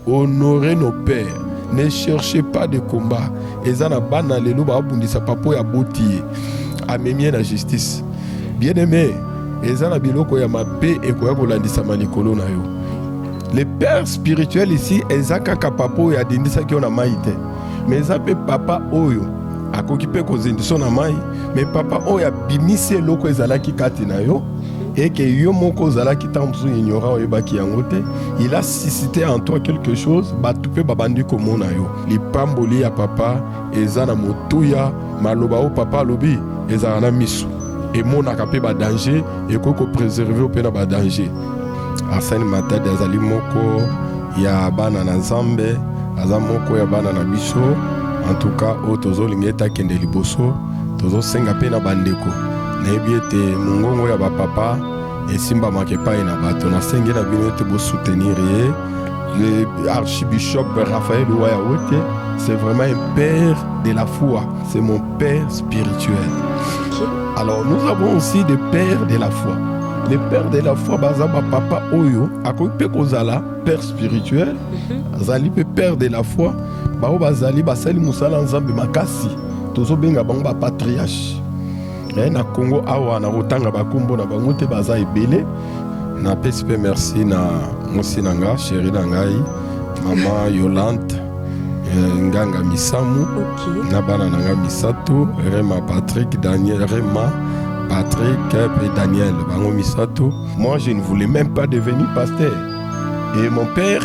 Honore nos pères ne cherchez pas de combat eza na bana lelo babundisa papa oyo aboti ye amemi ye na justice bien aime eza na biloko ya mabe ekoya kolandisama likolo na yo le père spirituel ici eza kaka papa oyo adindisaki yo na mai te me eza mpe papa oyo akoki mpe kozindisa na mai me papa oyo abimisi eloko ezalaki kati na yo et que yo moko ozalaki ntango mosusu ignorant oyebaki yango te il a suscité en toi quelque chose bato mpe babandi komona yo lipamboli ya papa eza na motuya maloba oyo papa alobi ezala na miso emonaka mpe badanger ekoki kopréserve mpe na badanger arsène matadi azali moko ya bana na nzambe aza moko ya bana na biso en tout cas oyo tozolinga ete akende liboso tozosenga mpe na bandeko nayebi ete mongongo ya bapapa esimbamaka epai na bato nasengi na bino ete bosoutenir ye le archibishop raphaël waya wote c'est vraiment un père de la foi c'est mon père spirituel alors nous avons aussi des pères de la foi les pères de la foi baza bapapa oyo akoki mpe kozala père spirituel mhm. azali mpe père de la foi baoyo bazali basali mosala nzambe makasi tozo benga bango ba patriarche eh, na Congo awa na kotanga ba kombo na bango te baza ebele na pesi pe merci na mosi na nga chéri na ngai mama Yolande eh, nganga misamu okay. na bana na nga misato Rema Patrick Daniel Rema Patrick et Daniel bango misato moi je ne voulais même pas devenir pasteur Et mon père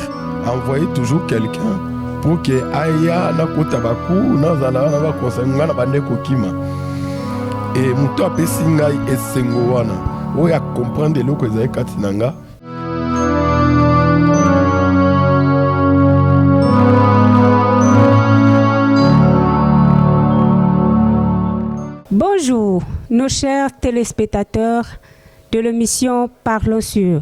envoyait toujours quelqu'un pour que aya nakota baku nazala wana bakonsa ngai na bande kokima e moto apesi ngai esengo wana oyo akomprendre eloko ezali kati na ngai Bonjour, nos chers téléspectateurs de l'émission Parlons sur.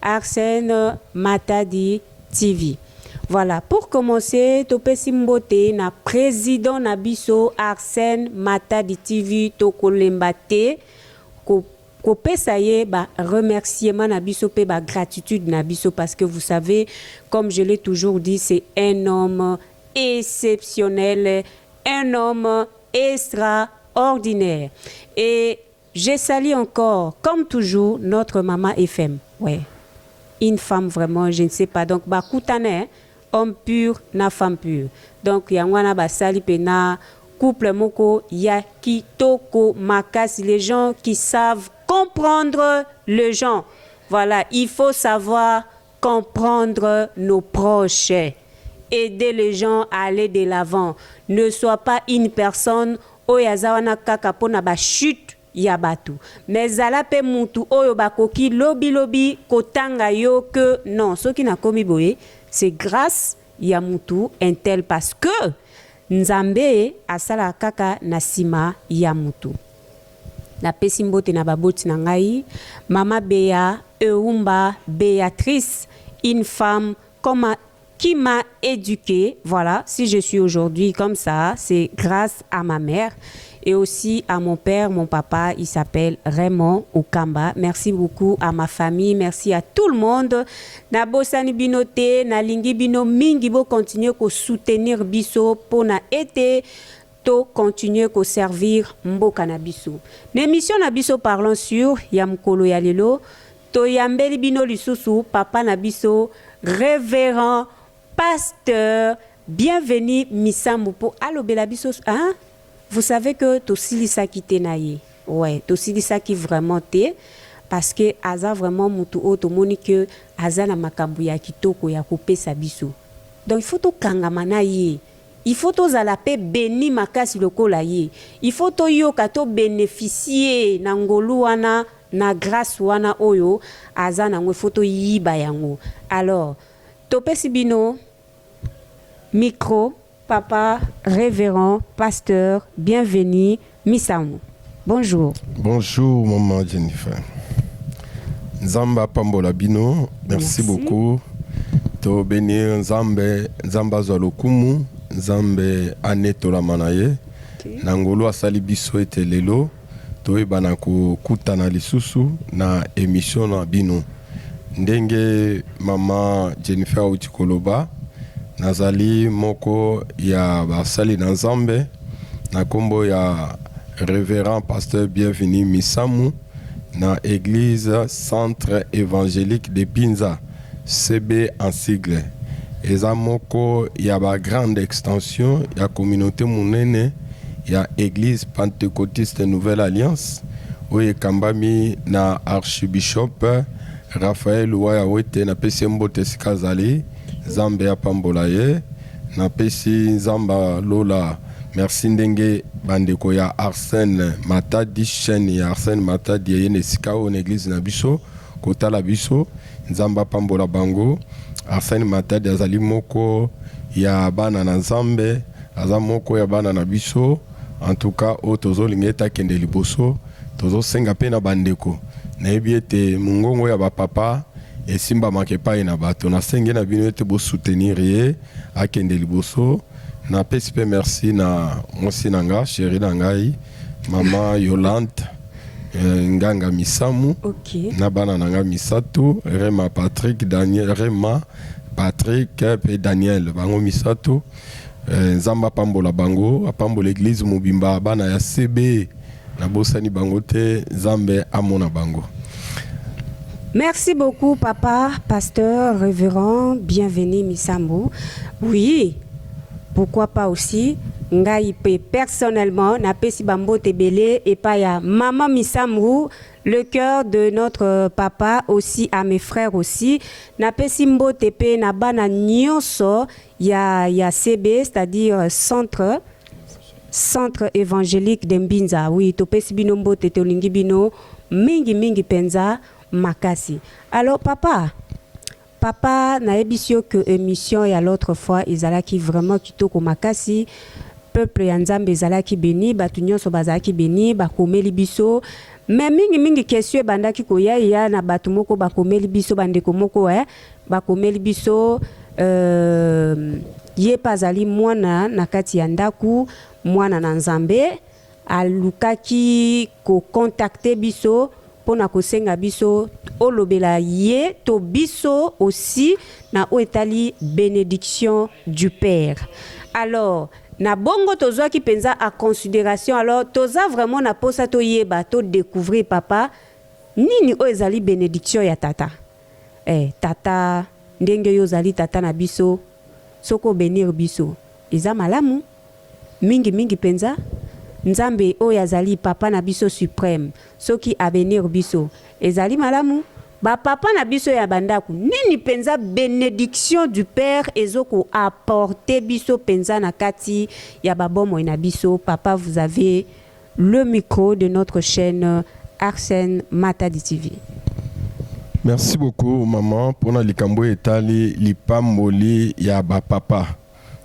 Arsene Matadi TV Voilà pour commencer topesi mbote na president na biso Arsene Matadi TV tokolemba te ko kopesa ye ba remerciement na biso pe ba gratitude na biso parce que vous savez comme je l'ai toujours dit c'est un homme exceptionnel un homme extraordinaire et Je salut encore comme toujours notre maman FM ouais une femme vraiment je ne sais pas donc ba kutana hein homme pur na femme pur donc yango wana ba sali pena couple moko ya kitoko makasi les gens qui savent comprendre les gens voilà il faut savoir comprendre nos proches aider les gens à aller de l'avant ne soit pas une personne oyo aza wana kaka pona ba chute ya batu mais zala pe mutu oyo bakoki lobi lobi kotanga yo que non soki nakomi boye c'est grace ya mutu un tel parce que nzambe asalaka kaka na sima ya mutu. Na pesi mbote na ba boti na ngai, mama Bea Eumba Beatrice, une femme comme ma qui m'a eduque voilà si je suis aujourd'hui comme ça c'est grace à ma mère et aussi à mon père mon papa il s'appelle Raymond Ukamba merci beaucoup à ma famille merci à tout le monde na bosani bino te na lingi bino mingi bo continuer ko soutenir biso pona ete To continuer ko servir mboka na biso. Na emission na biso Parlons sur ya mokolo ya lelo, toyambeli bino lisusu papa na biso Reverend Pasteur Bienvenu Misambu mpo alobela biso hein! Vous savez que tosilisaki te na ye. Ouais, tosilisaki vraiment te parce que aza vraiment mutu oyo tomoni que aza na makambo ya kitoko ya kopesa biso. Donc il faut tokangama na ye. Il faut tozala pe beni makasi lokola ye. Il faut toyoka to beneficier na ngolu wana na grace wana oyo aza nango il faut toyiba yango alors topesi bino micro. Papa reverend pasteur bienvenue Misamu, bonjour. Bonjour maman Jennifer. Nzambe apambola bino. Merci, Merci. beaucoup. To benir Nzambe, Nzambe azwa lokumu, Nzambe anetolama na ye. Okay. Na ngolu asali biso ete lelo toyebana kokutana lisusu na emission na bino. Ndenge mama Jennifer auti koloba, nazali moko ya basali na Nzambe. Na kombo ya Reverend Pasteur Bienvenu Misamu na Eglise Centre Evangelique de Binza, CEB en sigle, eza moko ya ba grandes extensions ya communaute munene ya Eglise Pentecotiste Nouvelle Alliance oyo ekambami na Archibishop Raphaël Luwaya Wete, napesi ye mbote esika azali, Nzambe apambola ye. Na pesi nzamba lola merci ndenge ba ndeko ya Arsene matadi chaine ya Arsene matadi eye na esika oyo na eglise na biso kotala biso nzambe apambola bango Arsene matadi azali moko ya bana na nzambe aza moko ya bana na biso en tout cas oyo tozo linga ete akende liboso tozo senga pe na ba ndeko na yebi ete mungongo ya ba papa esimbamaka epayi na bato. Nasengi na bino ete bo soutenir ye akende liboso. Napesi pe merci na mwasi na nga, cherie na ngai maman Yolante Nganga Misamu na bana na nga misatu Rema, Patrick, Daniel, Rema, Patrick pe Daniel bango misatu. Nzambe apambola bango, apambola eglise mobimba, bana ya CB. Nabosani bango te nzambe amona bango. Merci beaucoup papa pasteur reverend bienvenue misambu oui pourquoi pas aussi ngai pe personnellement na pesi bambote ebele epa ya mama misambu le cœur de notre papa aussi à mes frères aussi na pesi mbote pe na bana nyoso ya ya CB c'est à dire centre centre evangelique de Mbinza oui topesi bino mbote tolingi bino mingi mingi penza makasi alors papa papa nayebisi yo que emission ya l'autre fois ezalaki vraiment kitoko makasi peuple ya nzambe ezalaki beni bato nyonso bazalaki beni bakomeli biso mais mingi mingi question ebandaki koya ya na bato moko bakomeli biso bandeko moko eh, Bakomeli biso euh, ye mpe azali mwana na kati ya ndako, mwana na Nzambe. Alukaki kokontakte biso mpo na kosenga biso olobela ye to biso osi na oyo etali benediction du père alors na bongo tozwaki mpenza a consideration alors toza vraiment na mposa toyeba to découvrir papa nini oyo ezali benediction ya tata eh tata ndenge yo ozali tata na biso soki o benir biso eza malamu mingi mingi penza nzambe oyo azali papa na biso supreme soki a benir biso ezali malamu ba papa na biso ya ba ndaku nini penza benediction du père ezo ko apporter biso penza na kati ya ba bomoi na biso papa vous avez Le micro de notre chaine Arsène Matadi TV. Merci beaucoup maman pona likambo oyo etali lipamboli ya ba papa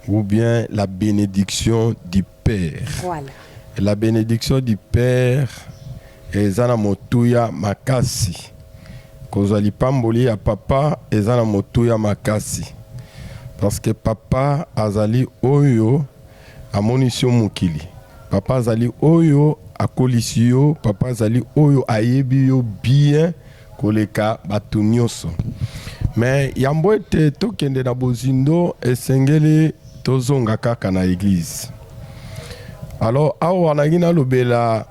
ou bien la benediction du père voilà. la benediction du père eza na motuya makasi kozwa lipamboli ya papa eza na motuya makasi parce que papa azali oyo Amonisi yo mokili. Papa azali oyo akolisi yo, papa azali oyo ayebi yo bien koleka bato nyoso. Mais yambo ete tokende na bozindo esengeli tozonga kaka na eglise. Alors awa nalingi nalobela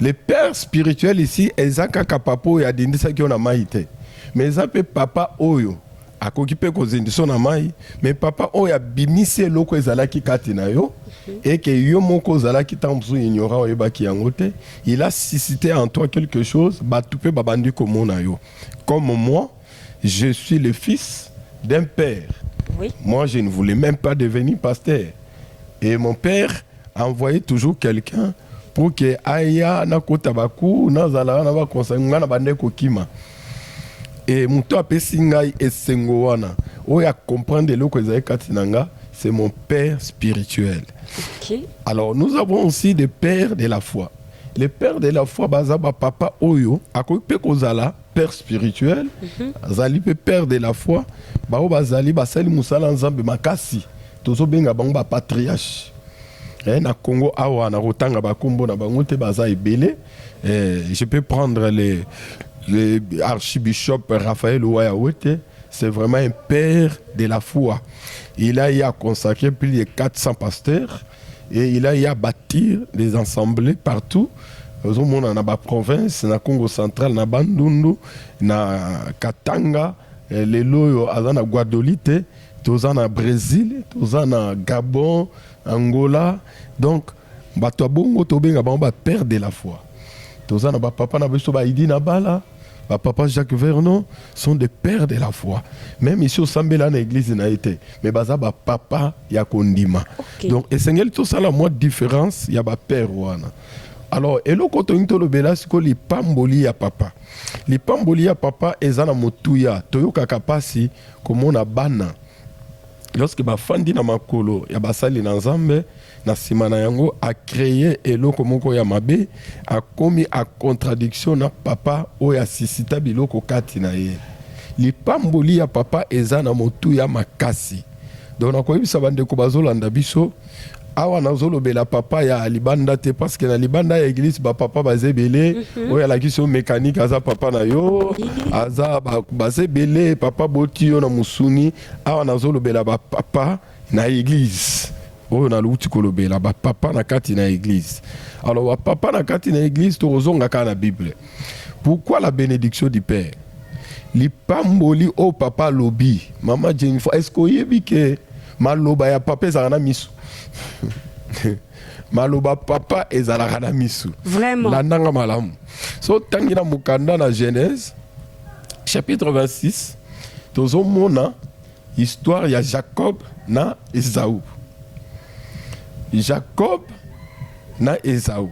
le père spirituel ici eza kaka papa oyo adindisaki yo na mai te mais eza mpe papa oyo akoki mpe kozindisa yo na mai mais papa oyo abimisi eloko ezalaki kati na yo eke yo moko ozalaki ntango mosusu ignora oyebaki yango te il a suscité en toi quelque chose bato mpe babandi komona yo comme moi je suis le fils d'un père oui. moi je ne voulais même pas devenir pasteur et mon père envoyer toujours quelqu'un pour que aya nakota baku nazala wana bakonsa ngai na bandai kokima e moto apesi ngai esengo wana oyo acomprendre eloko ezali kati na nga c'est mon père spirituel okay. alors nous avons aussi des pères de la foi les pères de la foi baza bapapa oyo akoki mpe kozala père spirituel azali mpe père de la foi bango bazali basali mosala nzambe makasi tozobenga bango bapatriarche eh, na congo awa na kotanga bakombo na bango te baza ebele eh, je peux prendre le, le archibishop raphaël waya wete c'est vraiment un père de la foi il a y a consacré plus de 400 pasteurs Et il a ya bâtir des ensembles partout ozomona na ba province na Congo central na Bandundu na Katanga eh, lelo oyo aza na Guadolite toza na Brésil toza na Gabon Angola donc bato ya bongo tobenga bango ba père de la foi toza na ba papa na biso ba Idi na bala ba papa Jacques Vernon sont des pères de la foi même ici osambela na église na ye te mais baza ba papa ya kondima okay. donc esengeli tosala mwa différence ya ba père wana alors eloko tolingi tolobela siko lipamboli ya papa lipamboli ya papa eza na motuya toyokaka mpasi komona bana lorsque bafandi na makolo ya basali na nzambe Na nsima na yango, a creer eloko moko ya mabe, akomi a contradiction na Papa oyo a sisita biloko kati na ye. Lipamboli ya Papa eza na motuya makasi. Donc nakoyebisa bandeko bazolanda biso, awa nazolobela papa ya libanda te parce que na libanda ya eglise ba papa baza ebele mm -hmm. oyo alakisi yo mécanique aza papa na yo aza baza ebele papa boti yo na mosuni awa nazolobela ba papa na eglise oyo naluti kolobela ba papa na kati na eglise alors ba papa na kati na eglise tokozonga kaka na bible pourquoi la benediction du père lipamboli oyo oh papa alobi mama jennifer est ce que oyebi ke maloba ya papa ezalaka na miso maloba papa ezalaka na miso vraiment landanga malamu so tangi na mokanda na genèse chapitre 26 tozomona Histoire ya Jacob na Esau. Jacob na Esau.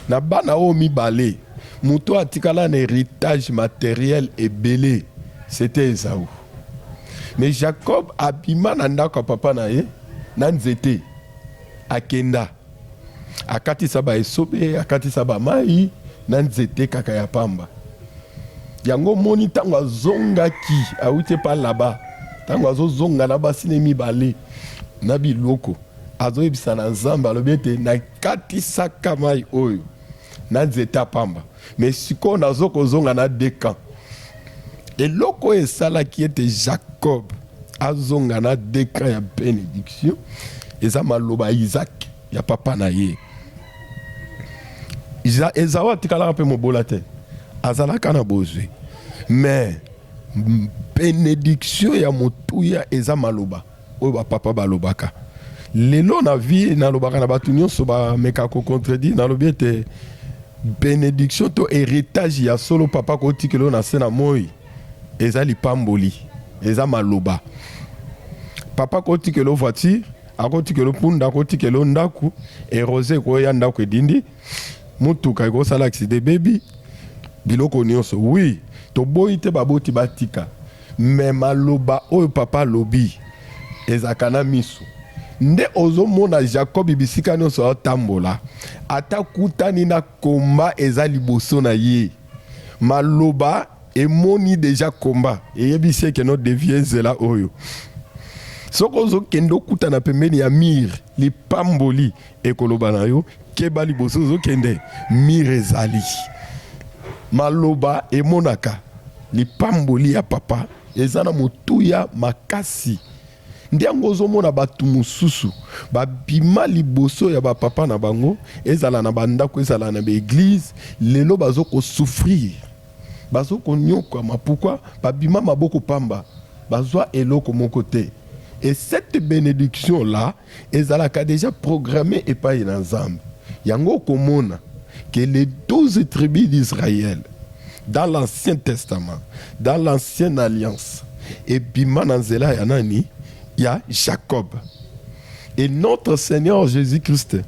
Na bana oyo mibale, moto oyo atikala na heritage materiel ebele, c'était Esau. Mais Jacob abima na ndako ya papa na ye na nzete, akenda. akatisa ba esobe akatisa ba mai na nzete kaka ya pamba yango moni ntango azongaki awuti epa laba ntango azozonga na basi ne mibale na biloko azoyebisa na nzambe alobi ete nakatisaka mai oyo na nzeta pamba mais sikoyo nazo kozonga na deux camps. Eloko oyo esalaki ete Jacob azonga na deux camps ya benediction eza maloba ya Isaac ya papa na ye. Ezao atikalaka mpe mobola te, azalaka na bozwi mais benediction ya motuya eza maloba Oyo ba papa ba lobaka. Lelo na vie na lobaka na batu nionso ba meka ko contredire na lobi ete benediction to heritage ya solo papa ko tikela yo na se na moyi eza lipamboli eza maloba. Papa ko tikela yo voiture, ako tikela yo punda, ako tikela yo ndaku et rose eko ya ndaku edindi. Mutuka eko sala accident ebebi biloko nioso oui toboyi te baboti batika mais maloba oyo papa alobi ezalaka na misu nde ozo mona Jacob bisika nioso azo tambola ata akutani na combat eza liboso na ye maloba emoni dejà combat eyebisi ye ke no devier nzela oyo soki ozo kende okutana pembeni ya mur lipamboli Ekoloba na yo keba liboso ozo kende mur ezali maloba emonaka lipamboli ya papa eza na motuya makasi nde yango ozomona bato mosusu babima liboso ya bapapa na bango ezala na bandako ezala na baeglize lelo bazo kosouffrir bazo konyokwama pourkui babima maboko pamba bazwa eloko moko te et cette benediction là Ezalaka deja programme epai na Nzambe. Yango okomona que les 12 tribus d'Israël dans l'Ancien Testament, dans l'Ancienne Alliance, ebima na nzela ya nani? Ya Jacob. Et notre Seigneur Jésus-Christ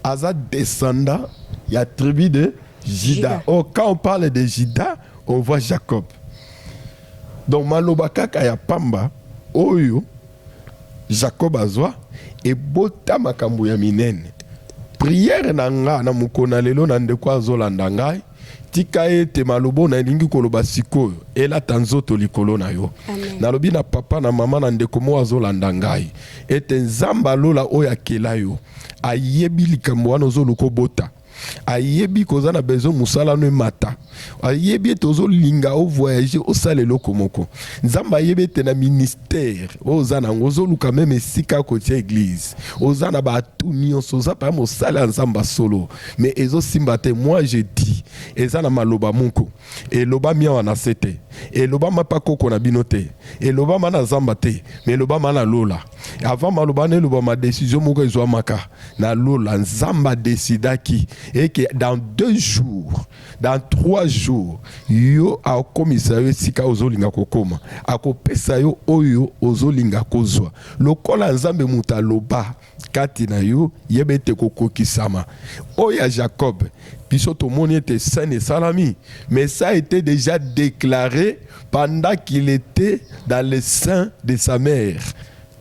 aza descendant ya tribu de Juda. Oh, quand on parle de Juda, on voit Jacob. Donc maloba kaka ya pamba oyo Jacob azua ebota makambo ya minene. Prière na nga na mokona lelo na ndeko azo landa ngai tika ete maloba oyo nalingi koloba sikoyo elata nzoto likolo na yo. Amen. Nalobi na papa na mama na ndeko moko azolanda ngai ete Nzambe alola oyo akela yo ayebi likambo wana ozoluka obota ayebi koza na besoin mosala no emata ayebi ete ozolinga ovoyage osala eloko moko nzambe ayebi ete na ministère oyo oza nango ozoluka meme esika kotia eglise oza na baatu nyonso oza paya mosali ya nzambe ya solo mais ezosimba te moi je dis eza na maloba moko elobami awa na se te elobama mpa koko na bino te elobama na zamba te mais elobama na lola avant maloba na elobama desizio moko ezwamaka na lola nzambe adesidaki eke dans deux jours dans trois jours yo akomisa yo esika ozolinga kokoma akopesa yo oyo ozolinga kozwa lokola nzambe moto aloba kati na yo yeba ete kokokisama oyo ya jacob biso tomoni ete scène esalami mais ça a été déjà déclaré pendant qu'il était dans le sein de sa mère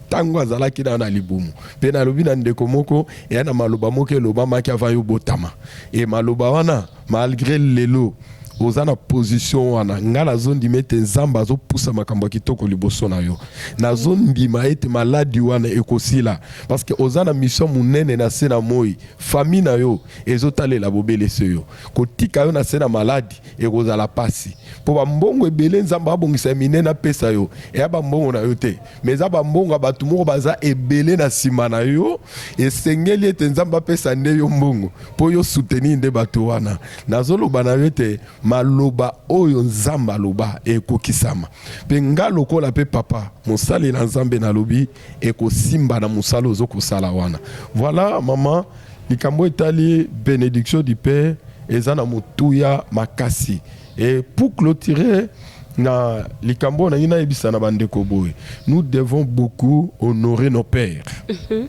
ntango azalaki na na libumu mpe nalobi na ndeko moko eya na maloba moko elobamaki avant yo botama e maloba wana malgre lelo oza na position wana ngai nazondima ete nzambe azopusa makambo ya kitoko liboso na yo nazondima ete maladi wana ekosila parceke oza na misio monene na se na moi fami na yo ezotalela bobele se yo kotika yo na se na maladi ekozala mpasi mpo bambongo ebele nzambe abongisa ya minene apesa yo eya bambongo na yo te Mais eza ba mbongo ya bato moko baza ebele na nsima na yo, esengeli ete Nzambe apesa nde yo mbongo mpo yo soutenir nde bato wana. Nazoloba na yo ete maloba oyo Nzambe aloba ekokisama. Mpe nga lokola mpe papa mosali na Nzambe nalobi ekosimba na mosala ozo kosala wana. Voilà maman likambo etali benediction du père eza na motuya makasi. Et pour clôturer na likambo oyo nalingi nayebisa na bandeko boye nous devons beaucoup honorer nos pères mhm.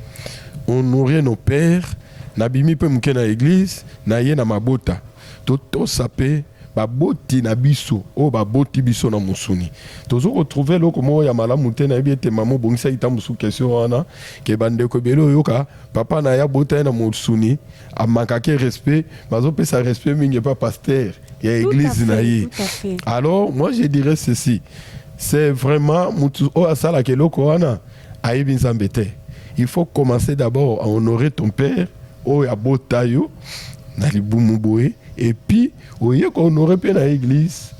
honorer nos pères nabimi mpe moke na église naye na mabota totosa mpe baboti na biso oyo baboti biso na mosuni tozo kotrouve eloko moko ya malamu te nayebi ete mama obongisaki ta mosusu question wana ke bandeko ebele oyoka papa na ye abota ye na mosuni a manquake respect bazo pesa respect mingi epa pasteur ya église na ye alors moi je dirais ceci c'est vraiment mutu oyo asalaka eloko wana ayebi nzambe te il faut commencer d'abord à honorer ton père oyo abota yo na libumu boye et puis oye ko honorer mpe na église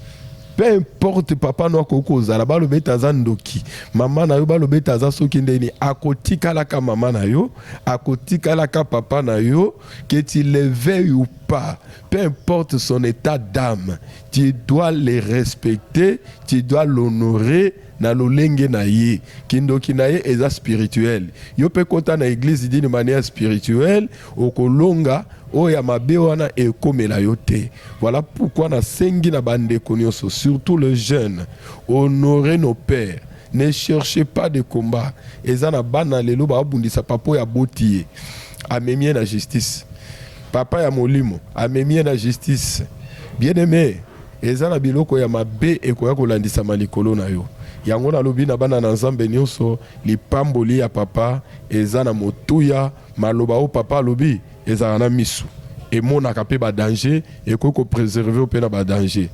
peu importe papa no akoki kozala baloba ete aza ndoki mama na yo baloba ete aza soki ndeni akotikalaka mama na yo akotikalaka papa na yo que tu le veuilles ou pas peu importe son état d'âme tu dois le respecter tu dois l'honorer na lolenge na ye kindoki na ye eza spirituel yo mpe kota na eglise d'une manière spirituelle okolonga oyo ya mabe wana ekomela yo te voilà pourquoi nasengi na bandeko nyonso surtout le jeune honore nos pères Ne cherchez pas de combat eza na bana lelo ba bundisa papa oyo aboti ye amemi ye na justice papa ya molimo amemi ye na justice bien aime eza na biloko ya mabe ekoya kolandisama likolo na yo yango nalobi na bana na nzambe nyonso lipamboli ya papa eza na motuya Maloba oyo Papa alobi ezalaka na misu, emonaka pe ba danger, ekoki ko preserver yo pe na ba danger.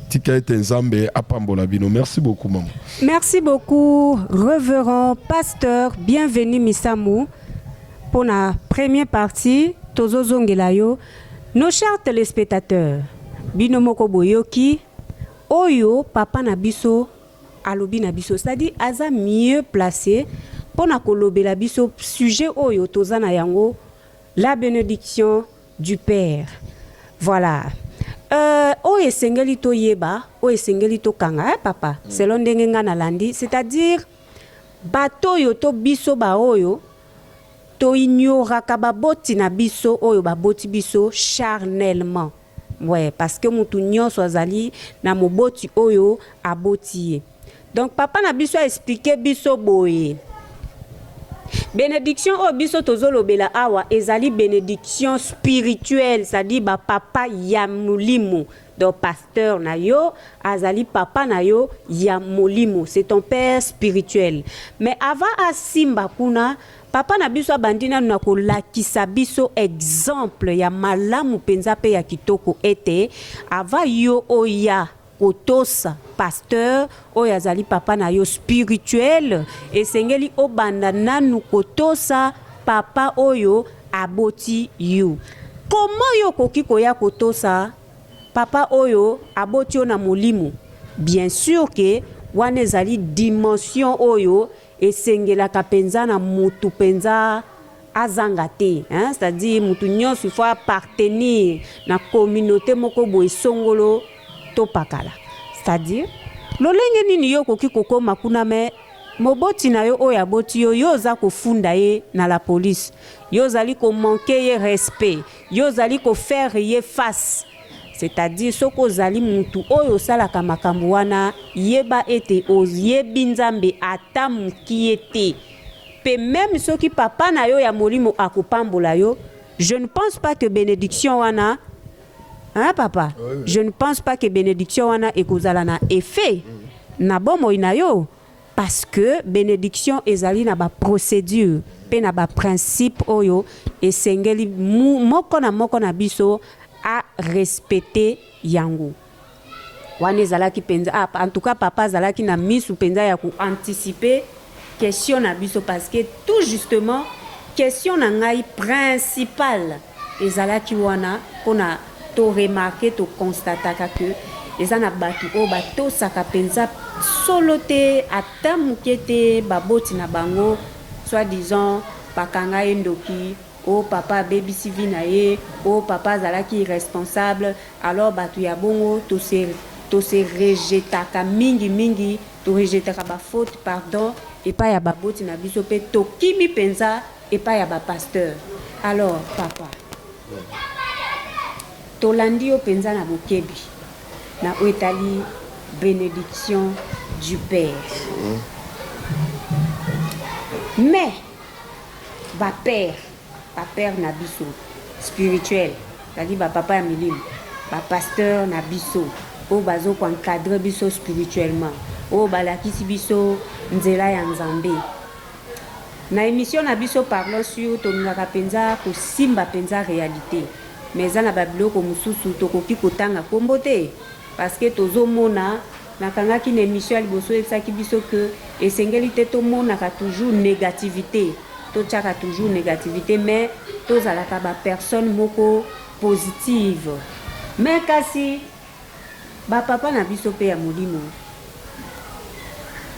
Tika ete Nzambe apambola bino. Merci beaucoup maman. Merci beaucoup reverend pasteur bienvenue Misamu pona premier partie tozo zongela yo. Nos chers telespectateurs, bino moko boyoki oyo papa na biso alobi na biso c'est à dire aza mieux place pona kolobela biso sujet oyo toza na yango la benediction du père voilà euh, oyo esengeli toyeba oyo esengeli tokanga eh, papa mm. selon ndenge nga nalandi c'est à dire bato oyo to biso baoyo toignoraka baboti na biso oyo baboti biso charnellement Ouais parce que mutu nionso azali na moboti oyo aboti ye. Donc papa na biso a expliquer biso boye, Benediction oyo biso tozo lobela awa ezali benediction spirituelle, c'est à dire ba papa ya molimo. Donc pasteur na yo azali papa na yo ya molimo, c'est ton père spirituel. Mais avant asimba kuna Papa na biso abandi nanu na kolakisa biso exemple ya malamu mpenza mpe ya kitoko ete avant yo oya kotosa pasteur oyo azali papa na yo spirituel esengeli obanda nanu kotosa papa oyo aboti yo. Comment yo okoki koya kotosa papa oyo aboti yo na molimo? Bien sur que wana ezali dimension oyo Esengelaka penza na mutu penza azanga te hein, c'est à dire mutu nionso il faut appartenir na communaute moko boye songolo topakala, c'est à dire lolenge nini yo okoki kokoma kuna mais moboti na yo oyo aboti yo, yo oza kofunda ye na la police, yo ozali ko manquer ye respect, yo ozali ko faire ye face. C'est-à-dire soki ozali mutu oyo osalaka makambo wana, yeba ete oyebi Nzambe ata mukie te. Pe meme soki papa na yo ya molimo akopambola yo, je ne pense pas que benediction wana, hein papa? Je ne pense pas que benediction wana ekozala na effet na bomoi na yo. Parce que benediction ezali na ba procedures mpe na ba principes oyo esengeli moko na moko na biso a respecter yango. Wana ezalaki mpenza, ah, en tout cas papa azalaki na misu mpenza ya ko anticiper question na biso parce que tout justement question na ngai principale Ezalaki wana pona to remarquer, to constataka que eza na batu oyo batosaka penza solo te ata muke te baboti na bango, soit disant bakanga ye ndoki, oh papa abebisi vie na ye, oh papa azalaki irresponsable, alors batu ya bongo to se to se rejetaka mingi mingi, to rejetaka ba fautes pardon epai ya baboti na biso pe tokimi penza. epai ya ba pasteur alors papa tolandi yo penza na bokebi na oyo etali benediction du père mais ba père ba père na biso spirituel ezali ba papa ya milimo ba pasteur na biso oyo bazo ko encadre biso spirituellement oyo balakisi biso nzela ya nzambe Na emission na biso parlons sur tolingaka penza kosimba penza realite mais eza na ba biloko mususu tokoki kotanga kombo te parce que tozo mona na kangaki na emission ya liboso oyebisaki biso que esengeli te tomonaka toujours negativite totiaka toujours negativite mais tozalaka ba personne moko positive mais kasi Ba papa na biso pe ya molimo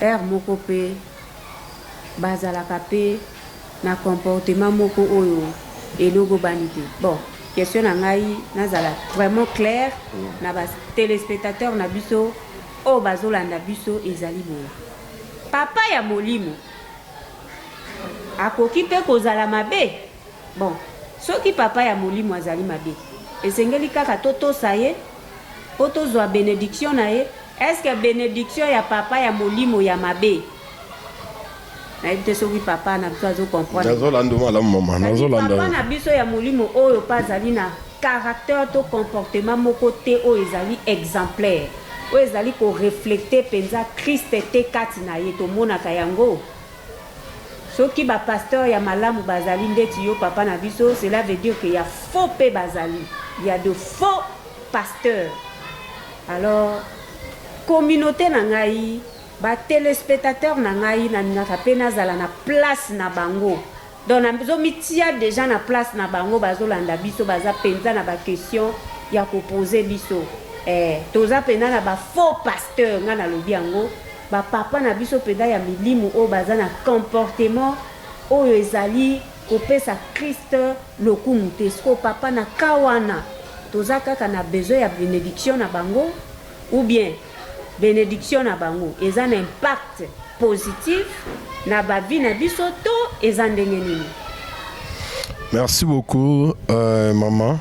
heure moko pe bazalaka pe na comportement moko oyo elogobani te bon question na ngai nazala vraiment clair na ba telespectateur na biso oyo bazolanda biso ezali boye papa ya molimo akoki pe kozala mabe Bon, soki papa ya molimo azali mabe, esengeli kaka totosa ye mpo tozwa benediction na ye? Est-ce que benediction ya papa ya molimo ya mabe? Nayebi te soki papa na biso azo comprendre. Nazo landa malamu mama, nazo landa. Papa na biso ya molimo oyo pa azali na caractère to comportement moko te oyo ezali exemplaire, oyo ezali ko reflecter penza Christ te kati na ye, tomonaka yango? Soki ba pasteurs ya malamu bazali ndeti yo papa na biso cela veut dire que ya faux pe bazali, il ya de faux pasteurs alors communaute na ngai ba telespetateurs na ngai nalingaka pe nazala na place na bango. Donc nazo mitia dejà na place na bango bazo landa biso baza penza na ba question ya ko poser biso eh toza penza na ba faux pasteur nga na lobi yango ba papa na biso penza ya milimu oyo baza na comportement oyo ezali ko pesa Christ lokumu te sikoyo papa na cas wana toza kaka na besoin ya benediction na bango ou bien benediction na bango eza na impact positif na ba vie na biso to eza ndenge nini? Merci beaucoup euh, maman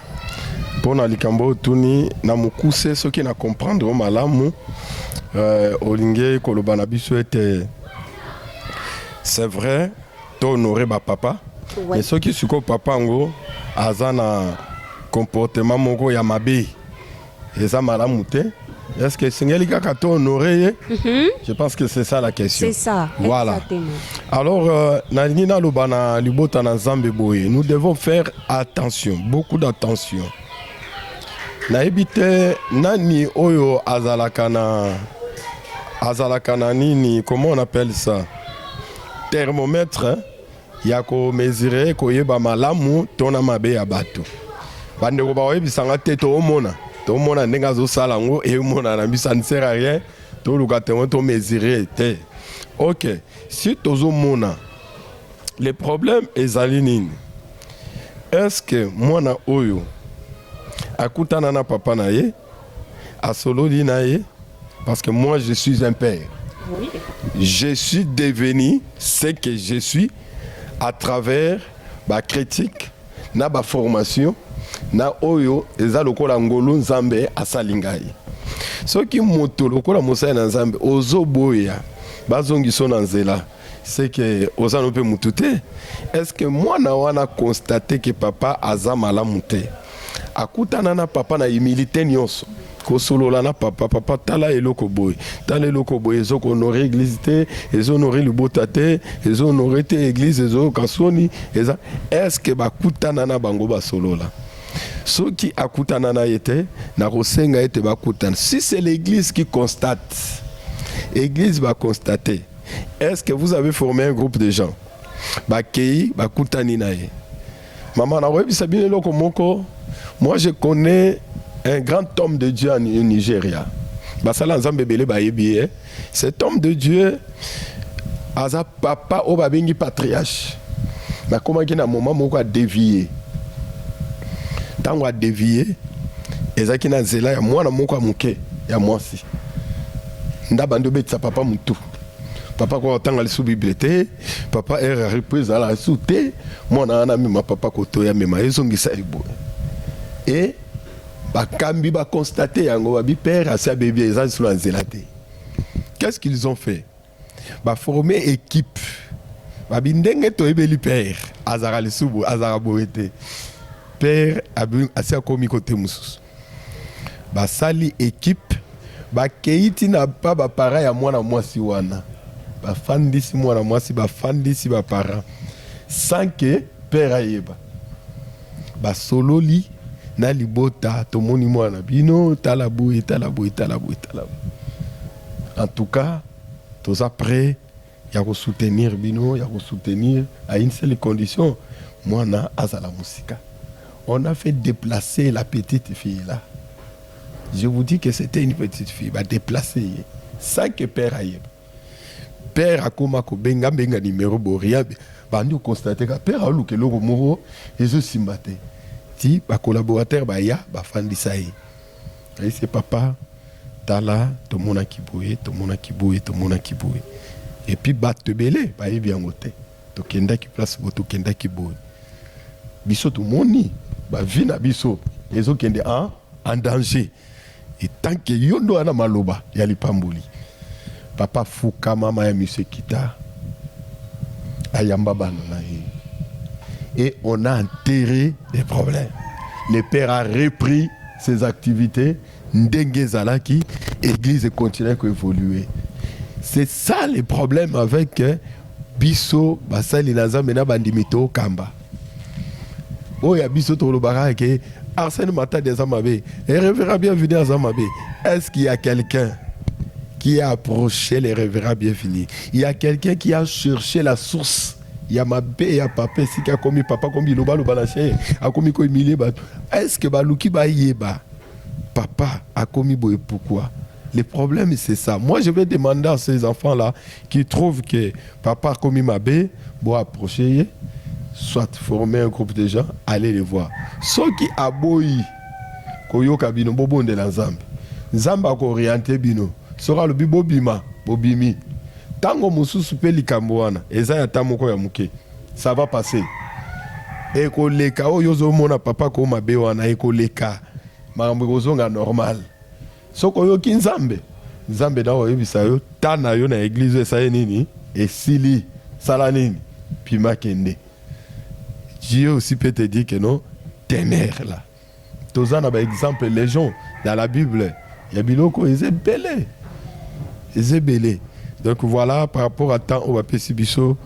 pona likambo oyo tuni na mokuse soki na comprendre malamu euh, olingi koloba na biso ete c'est vrai to honore ba papa ouais. soki sikoyo papa yango aza na comportement moko ya mabe eza malamu te est-ce que esengeli kaka to honore ye mhm. je pense que c'est ça la question c'est ça voilà exactement. alors euh, nalingi naloba na libota na nzambe boye nous devons faire attention beaucoup d'attention nayebi te nani oyo azalaka na azalaka na nini comment on appelle ça thermomètre hein? ya ko mesure koyeba malamu to na mabe ya bato bandeko bakoyebisa nga te toomona tomona ndenge azosala yango emonana biso anisera rien toluka tengo to mesure te ok si tozomona le problème ezali nini est ce que mwana oyo akutana na papa na ye asololi na ye parce que moi je suis un père oui. je suis devenu ce que je suis à travers ba critique na ba formation na oyo eza lokola ngolu nzambe asali ngai soki moto lokola mosali na nzambe ozoboya bazongiso na nzela c'est que oza no pe mutu te est-ce que mwana wana constate que papa aza malamu te akutana na papa na humilité nyonso kosolola na papa papa tala eloko boye tala eloko boye ezokohonore eglize te ezohonore libota te ezohonore te eglize ezoyoka soni eza eske bakutana na bango basolola soki akutana na ye te nakosenga ete bakutana si c'est l'église qui constate église baconstate Est-ce que vous avez formé un groupe de gens bakei bakutani na ye mama nakoyebisa bino eloko moko moi je connais un grand homme de dieu en nigeria basala nzambe ebele bayebi ye eh. cet homme de dieu aza papa oyo babengi patriarche nakomaki na moma moko adevie ntango adevie ezalaki na nzela ya mwana moko ya moke ya mwasi Ndaba nde obetisa papa mutu. Papa kwa otanga lisu Bible te. Papa erreur ya reprise ala lisu te. Mwana wana mema papa koto ya mema ezongisa ebo. Et bakambi ba constate yango ba bi père asi abebi eza lisu na nzela te. Qu'est-ce qu'ils ont fait? Ba former équipe. Ba bi ndenge to ebeli père azara lisu bo azara boye te. Père abi asi akomi kote mususu. Basali equipe bakeyi ti na pa ba parents ya mwana mwasi wana bafandisi mwana mwasi bafandisi ba parents sans que père ayeba basololi na libota tomoni mwana na bino tala boye tala boye tala boye tala boye en tout cas toza près ya ko soutenir bino ya ko soutenir à une seule condition muana azala musika on a fait deplacer la petite fille là je vous dis que c'était une petite fille ba deplacer ye sans que père ayeba père akoma kobenga benga numero boria bandi okonstate ka père aoluka eloko moko ezosimba te ti bacolaborateur baya bafandisa ye Aise papa tala tomonaki boye tomonaki boye tomonaki boye epuis batu ebele bayebi yango te tokendaki place boye tokendaki boye biso tomoni ba vie na biso ezokende en en danger etant que yo nde oya na maloba ya lipamboli papa fuka mama ya monsieur kita ayamba bana na ye et on a enterre des problèmes le père a repris ses activites ndenge ezalaki eglise e continuer ko evoluer c'est ça le problème avec euh, biso basali na nzambe na bandimi tokamba oyo ya biso tokolobaka ke arsène matadi aza mabe e revera bienvenu aza mabe est ce qu'il y a quelqu'un qui a approché les révérends bienvenus. Il y a quelqu'un qui a cherché la source ya mabe ya papa esika akomi papa akomi biloba loba na se akomi ko humilie bato est ce que baluki bayeba papa akomi boye pourquoi le problème c'est ça moi je vais demander à ces enfants là qui trouvent que papa akomi mabe bo approcher ye soit former un groupe de gens aller les voir soki aboyi koyoka bino bobondela nzambe nzambe akooriente bino soki alobi bobima bobimi Tango mosusu pe likambo wana eza ya temps moko ya muke ça va passe eko leka oyo ozo mona papa ko mabe wana eko leka makambo eko zonga normal soki oyoki nzambe nzambe nao yebisa yo temps na yo na eglise oyo esali nini esili sala nini pima kende Dieu aussi peut te dire que non demeure là. Toza na ba exemples legion dans la bible ya biloko oyo eza ebele eza ebele donc voila par rapport à temps oyo bapesi biso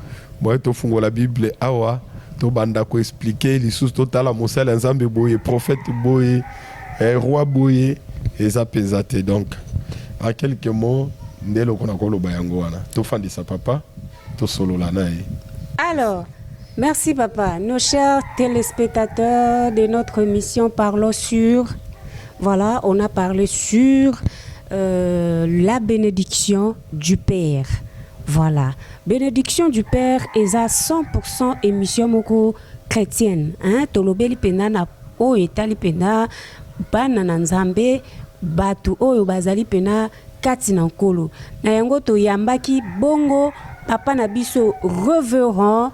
boye tofungola bible awa tobanda ko expliquer lisusu totala mosali ya Nzambe boye prophète boye eh, roi boye eza mpenza te donc en quelques mots nde eloko nakoloba yango wana tofandisa papa Tosolola na ye. Alors, merci papa. Nos chers telespectateurs de notre émission Parlons sur. Voilà, on a parlé sur euh, la bénédiction du Père. Voilà. Bénédiction du Père est à 100% émission moko chrétienne. Hein? Tolobeli pena na o etali pena bana na nzambe batu oyo bazali pena kati na Nkolo. Na yango toyambaki bongo Papa na biso Reverend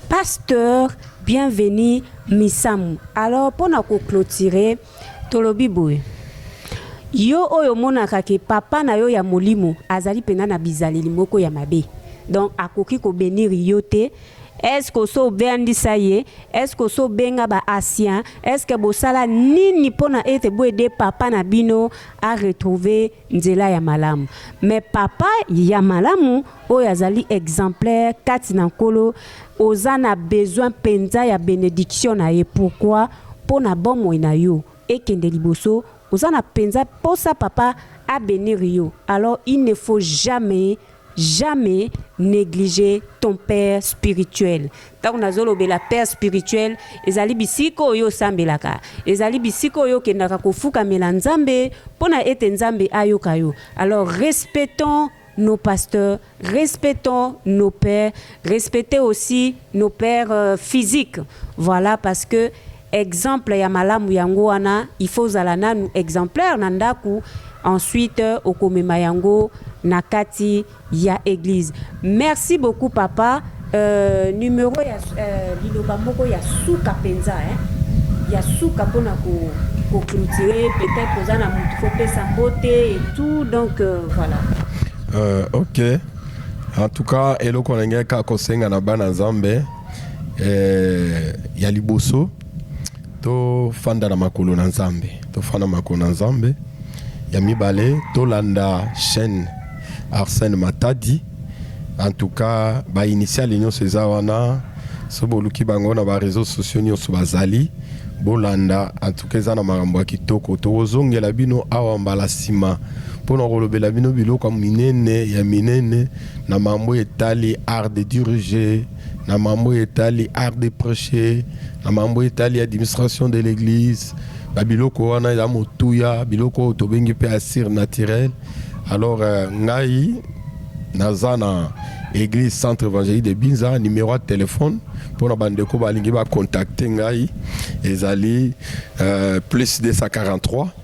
Pasteur Bienvenu Misamu. Alors mpo na ko cloturer, tolobi boye, yo oyo omonaka ke papa na yo ya molimo azali mpenza na bizaleli moko ya mabe, donc akoki ko benir yo te, est ce que osi obendisa ye? Est ce que osi obenga ba anciens? Est ce que bosala nini mpo na ete boyede papa na bino a retrouver nzela ya malamu mais papa ya malamu oyo azali exemplaire kati na nkolo oza na besoin mpenza ya benediction na ye pourquoi mpo na bomoi na yo ekende liboso oza na mpenza mposa papa abenir yo alors il ne faut jamais Jamais negliger ton père spirituel tango nazo lobela père spirituel ezali bisika oyo osambelaka ezali bisika oyo okendaka kofukamela Nzambe pona ete Nzambe ayoka yo alors respectons nos pasteurs respectons nos pères respecter aussi nos pères physiques voilà parce que Exemple ya malamu yango wana il faut ozala nanu exemplaire na ndaku ensuite okomema yango na kati ya eglise. Merci beaucoup papa euh numero ya euh liloba moko ya suka penza hein ya suka pona ko ko clotire peut etre oza na mutu ko pesa mbote et tout donc euh, voilà. Euh, ok en tout cas eloko na ngai kaka kosenga na bana nzambe Eh, ya liboso tofanda na makolo na nzambe tofanda makolo na nzambe ya mibale tolanda chaîne arsène matadi en tout cas bainitiale nyonso eza wana so boluki bango na bareseau sociaux nyonso bazali bolanda en tout cas eza na makambo ya kitoko tokozongela bino awa mbala nsima mpo na kolobela bino biloko minene ya minene na mambo etali art de diriger na mambo oyo etali art de precher, na mambo oyo etali administration de l'eglise, ba biloko wana ya motuya, biloko oyo tobengi mpe ya surnaturel. Alors euh, ngai naza na église centre évangélique de binza numéro ya telefone mpona bandeko balingi bakontakte ngai ezali euh, plus 243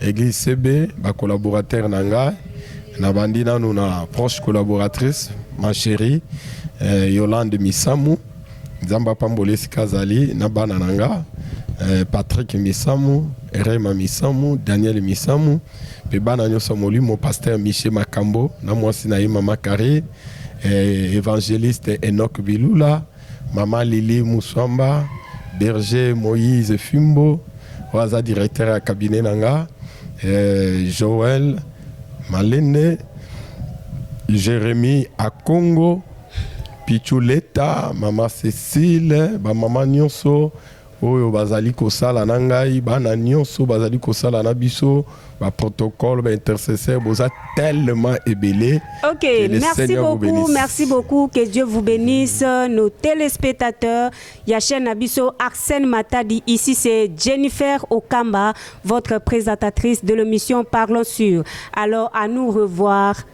Eglise CB, ba collaborateurs na nga, na bandi nanu na proche collaboratrice, ma chérie eh, Yolande Misamu, Nzambe apambola esika azali na bana na nga eh, Patrick Misamu, Rema Misamu, Daniel Misamu, pe bana nyonso ya molimo, pasteur Michel Makambo na mwasi na ye mama Carrie, eh, evangeliste Enoch Bilula, Maman Lili Muswamba, Berger Moïse Fimbo, oyo aza directeur ya cabinet na nga, eh, Joël Malende, Jérémie Akongo, Pichu Leta, Maman Cécile, ba maman nyonso Oyo bazali kosala na ngai, bana nionso bazali kosala na biso, ba protocoles, ba intercesseurs, boza tellement ebele Ok, que le merci Seigneur vous beaucoup, benisse. merci beaucoup. Que Dieu vous bénisse. Nos téléspectateurs, ya chaîne Abisso, Arsène Matadi. Ici, c'est Jennifer Okamba, votre présentatrice de l'émission Parlons sur. Alors, à nous revoir.